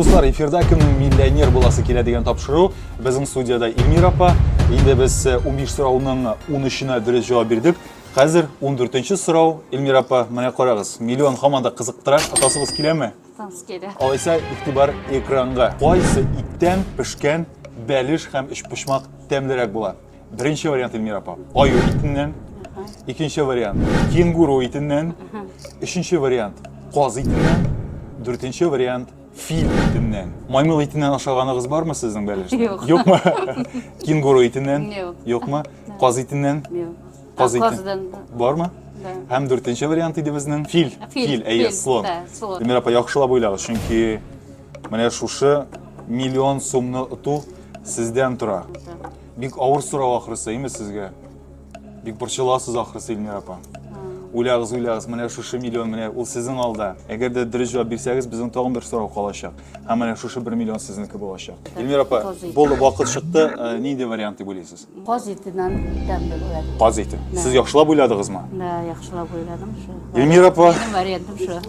Дуслар, эфирда кем миллионер буласы килә дигән тапшыру. Безнең студияда Эльмира апа. Инде без 15 э, сорауның 13-ына дөрес җавап бирдек. Хәзер 14-нче сорау. Эльмира апа, менә карагыз, миллион һаман да кызыктыра. Атасыбыз киләме? Атасыз килә. Алайса, игътибар экранга. Кайсы иттән пешкән бәлеш һәм өчпочмак тәмлерәк була? Беренче вариант Эльмира апа. Аю итеннән. Икенче вариант кенгуру итеннән. Өченче вариант каз итеннән. Дүртенче вариант фил итеннән. Маймыл итеннән ашаганыгыз бармы сезнең бәлеш? Юк. Юкмы? Кенгуру итеннән? Юк. Юкмы? Каз итеннән? Юк. Каз итен. Бармы? Һәм дүртенче вариант иде безнең фил. Фил, әйе, слон. Эльмира апа, яхшылап уйлагыз, чөнки Менә шушы миллион сумны оту сездән тора. Бик авыр сорау ахрысы, әйме сезгә? Бик борчыласыз ахрысы, Илмира апа. Уйлагыз, уйлагыз, менә шушы миллион, менә ул сезнең алда. Әгәр дә дөрес җавап бирсәгез, безнең тагын бер сорау калачак. Һәм менә шушы бер миллион сезнеке булачак. Илмира апа, булды, вакыт чыкты. Э, нинди вариант дип уйлыйсыз? Каз итеннән тәмле була. Каз ите. Сез яхшылап уйладыгызмы? Да, яхшылап уйладым шу. Эльмира апа. Минем вариантым шу.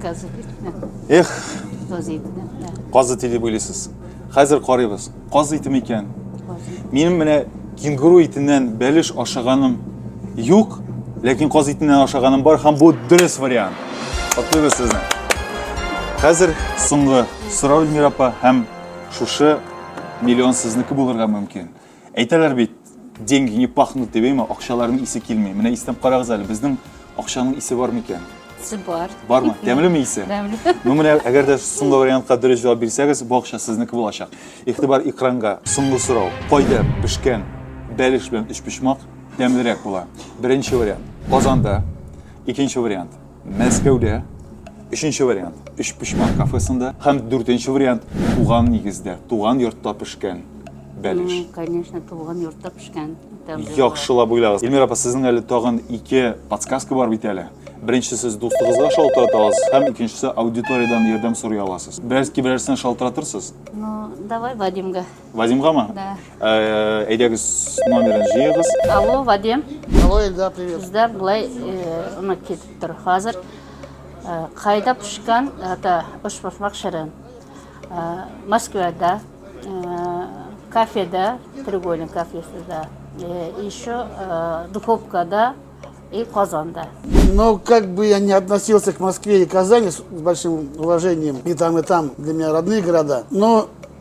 Каз итеннән. Эх. Каз итеннән. Каз ите дип уйлыйсыз. Хәзер карыйбыз. Каз ите микән? Минем менә кенгуру итеннән бәлеш ашаганым юк, ләкин каз итеннән ашаганым бар һәм бу дөрес вариант. Котлыйбыз сезне. Хәзер соңгы сорау Эльмира апа һәм шушы миллион сезнеке булырга мөмкин. Әйтәләр бит, деньги не пахнут дип, әйме, акчаларның исе килми. Менә истәп карагыз әле, безнең акчаның исе бар микән? Исе бар. Бармы? Тәмлеме исе? Тәмле. Ну, менә әгәр дә соңгы вариантка дөрес җавап бирсәгез, бу акча сезнеке булачак. Игътибар экранга. Соңгы сорау. Кайда пешкән бәлеш белән өчпочмак тәмлерәк була? Беренче вариант. Казанда. Икенче вариант. Мәскәүдә, өченче вариант, Өчпочмак кафесында һәм дүртенче вариант, туган нигездә, туган йортта пешкән бәлеш. Конечно, туган йортта пешкән. Яхшылап уйлагыз. Эльмира апа, сезнең әле тагын ике подсказка бар бит әле. Беренче сез дустыгызга шалтырата аласыз һәм икенчесе аудиториядән ярдәм сорый аласыз. Берәрс киберәрсен шалтыратырсыз? Ну, давай Вадимга. Вадимга ма? Да. Э, әйдәгез номерын җыегыз. Алло, Вадим. Алло, Эльдар, привет. Бездә былай э, ны китеп тор. Хәзер э, кайда пешкән ата ош башмак шәрен. Э, Москвада, э, кафеда, треугольник кафесында, э, еще э, духовкада и Казанда. Но как бы я не относился к Москве и Казани с большим уважением, и там, и там для меня родные города, но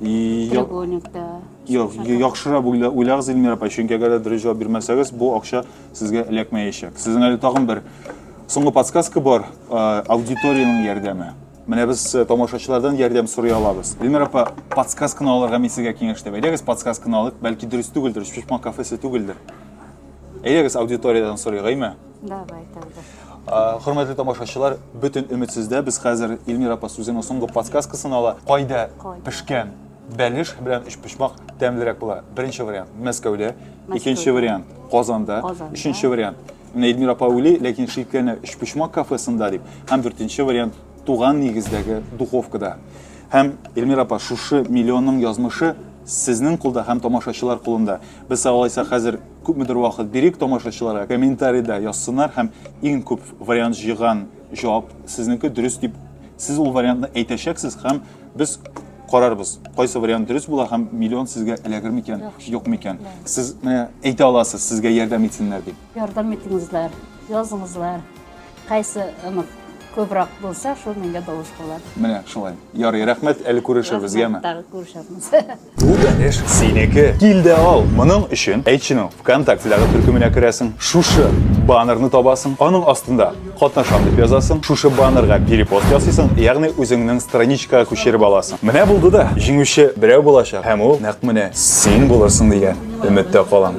Треугольникта. Юк, яхшырак уйлагыз, Эльмира апа, чөнки әгәр дә дөрес җавап бирмәсәгез, бу акча сезгә эләкмәячәк. Сезнең әле тагын бер соңгы подсказка бар, аудиториянең ярдәме. Менә без э, тамашачылардан ярдәм сорый алабыз. Эльмира апа, подсказканы алырга мин сезгә киңәш итәм. Әйдәгез подсказканы алыйк, бәлки дөрес түгелдер, шпишмак кафесы түгелдер. Әйдәгез аудиториядән сорыйк, әйме? Давай тогда. Хөрмәтле тамашачылар, бөтен өмет сездә. Без хәзер Эльмира апа сүзенең соңгы подсказкасын ала. Кайда пешкән бәлеш белән өчпочмак тәмлерәк була? Беренче вариант Мәскәүдә, икенче вариант Казанда, өченче вариант Менә Эльмира апа уйлый, ләкин шикләнә өчпочмак кафесында дип. Һәм дүртенче вариант туган нигездәге духовкада. Һәм Эльмира апа шушы миллионның язмышы сезнең кулда һәм тамашачылар кулында. Без алайса хәзер Күпмедер вакыт бирик тамашачыларга, комментарида язсыннар һәм иң күп вариант җыйган җавап сезнеке дөрес дип сез ул вариантны әйтәчәксез һәм без карарбыз, кайсы вариант дөрес була һәм миллион сезгә эләгер микән, юк микән. Сез менә әйтә аласыз, сезгә ярдәм итсеннәр дип. Ярдәм итеңезләр, языңызлар. Кайсы онык күбрәк булса, шул меңгә тавыш була. Менә шулай. Ярый, рәхмәт, әле күрешербез, яме? Тагы күрешербез. Бүтән эш синеке. Кил дә ал. Моның өчен әйтченең ВКонтактедагы төркеменә керәсең, шушы баннерны табасың, аның астында катнашам дип язасың, шушы баннерга перепост ясыйсың, ягъни үзеңнең страничкага күчереп аласың. Менә булды да, җиңүче берәү булачак, һәм ул нәкъ менә син булырсың дигән өметтә калам.